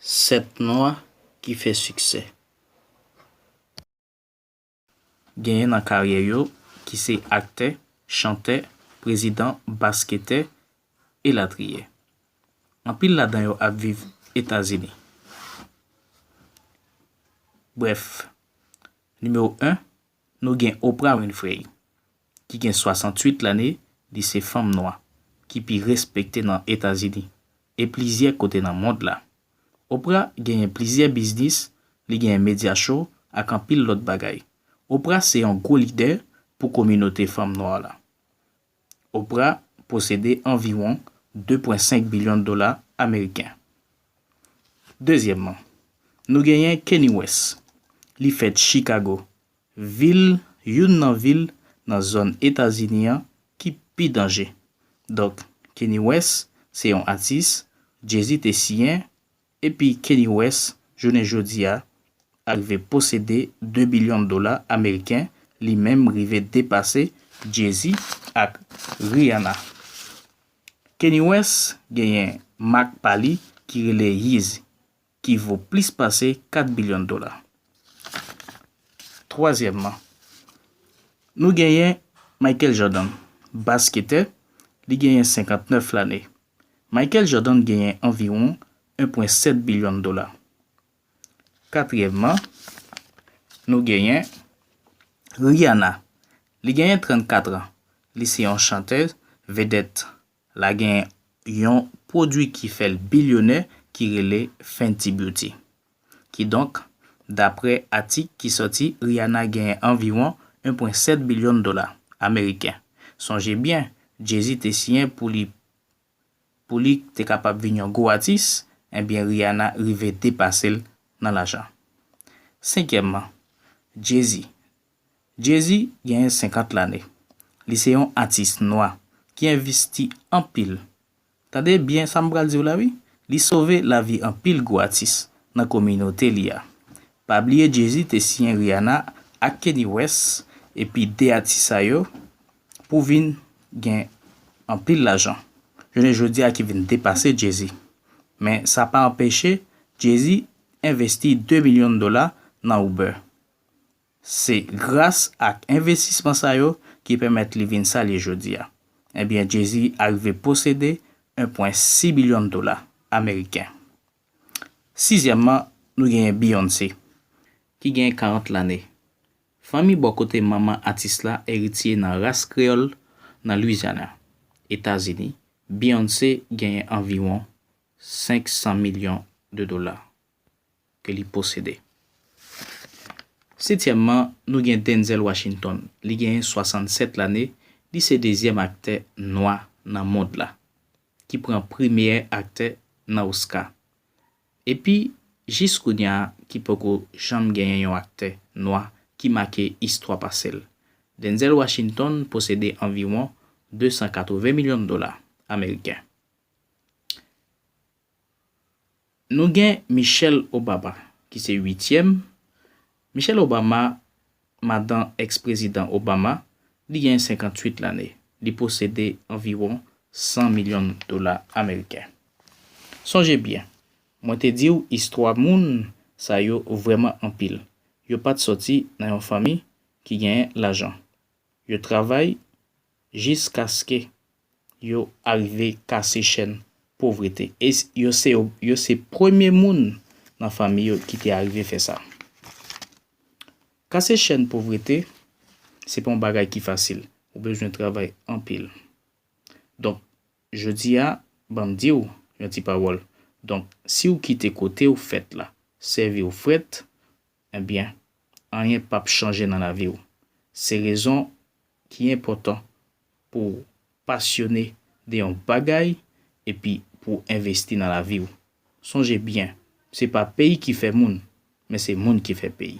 7 nwa ki fè siksè. Genyen nan karyè yo ki se aktè, chantè, prezidan, basketè, elatriye. Anpil ladan yo ap viv Etazini. Brèf, nimewo 1, nou gen Oprah Winfrey. ki gen 68 lane, li se fanm nwa ki pi respekte nan Etazini e plizyè kote nan mond la. Oprah genyen plizyè biznis, li genyen media show ak anpil lòt bagay. Oprah se yon gwo lidè pou kominote fanm nwa la. Oprah posede anviwon 2.5 bilyon dola ameriken. Dezyèmman, nou genyen Kanye West. Li fèt Chicago, Vil, Youn nan vil nan zòn Etazini an ki pi danje. Donk, Kanye West se yon atis Jay-Z te siyen, epi Kanye West jounen jodi a arive posede 2 bilyon dola ameriken, li menm rive depase Jay-Z ak Rihanna. Kanye West genyen mak pa li ki rele Yeezy, ki vo plis pase 4 bilyon dola. Twazyèmman, nou genyen Michael Jordan, basketè, li genyen 59 lane. Michael Jordan genyen anviwon 1.7 bilyon dola. Katriyèmman, nou genyen Rihanna, li genyen 34 an, li se yon chantèz, vedèt, La gen yon pwodwi ki fè l bilyonè ki rele Fenty Beauty. Kidonk, daprè atik ki sòti Rihanna genyen anviwon 1.7 bilyon dola ameriken. Sonje byen, Jay-Z te siyen pou li pou li te kapab vin yon gwo atis, enbyen Rihanna rive depase l nan lajan. Senkyèmman, Jay-Z, Jay-Z genyen 50 lane. Li se yon atis nwa ki envisti anpil. Tande byen sa m pral di w la wi, li sove lavi anpil gwo atis nan kominote li a. Pa bliye Jay-Z te siyen Rihanna ak Kanye West epi 2 atis sa yo pou vin gen anpil lajan jounen jodi a ki vin depase Jay-Z. Men sa pa anpeche Jay-Z envesti 2 milyon dola nan Uber. Se gras ak envestisman sa yo ki pèmèt li vin sa l ye jodi a. Ebyen Jay-Z arive posede 1.6 bilyon dola ameriken. Sizyèmman, nou genyen Beyoncé, ki genyen 40 lane, fanmi bò kote manman atis la eritye nan ras kreyòl nan Louisiana, Etazini, Beyoncé genyen anviwon 500 milyon de dola. ke li posede. Setyèmman, nou gen Denzel Washington. Li genyen 67 lane, li se dezyèm aktè nwa nan mond la, ki pran pri meyè aktè nan Oscar. Epi, jis kounya a, ki poko janm genyen yon aktè nwa ki make istwa pase l. Denzel Washington posede anviwon 280 milyon dola ameriken. Nou gen Michelle Obama ki se uityèm, Michelle Obama, madan ex-prezidan Obama, li gen 58 lane, li posede anviwon 100 milyon dola ameriken. Sonje byen, mwen te di w istwa moun sa yo vrèman anpil, yo pat sòti nan yon fanmi ki genyen lajan. Yo travay jiskaske yo arive kase chèn povrete. E yo se yo se premye moun nan fanmi yo ki te arive fè sa. Kase chèn povrete, se pa yon bagay ki fasil. Ou bezwen travay anpil. Donk, jodi a, ban m di w yon ti pawòl. Donk, si w kite kote w fèt la sèvi w frèt, Ebyen, anyen pap chanje nan lavi w. Se rezon ki enpòtan pou w pasyone de yon bagay epi pou w envesti nan lavi w. Sonje byen, se pa peyi ki fè moun, men se moun ki fè peyi.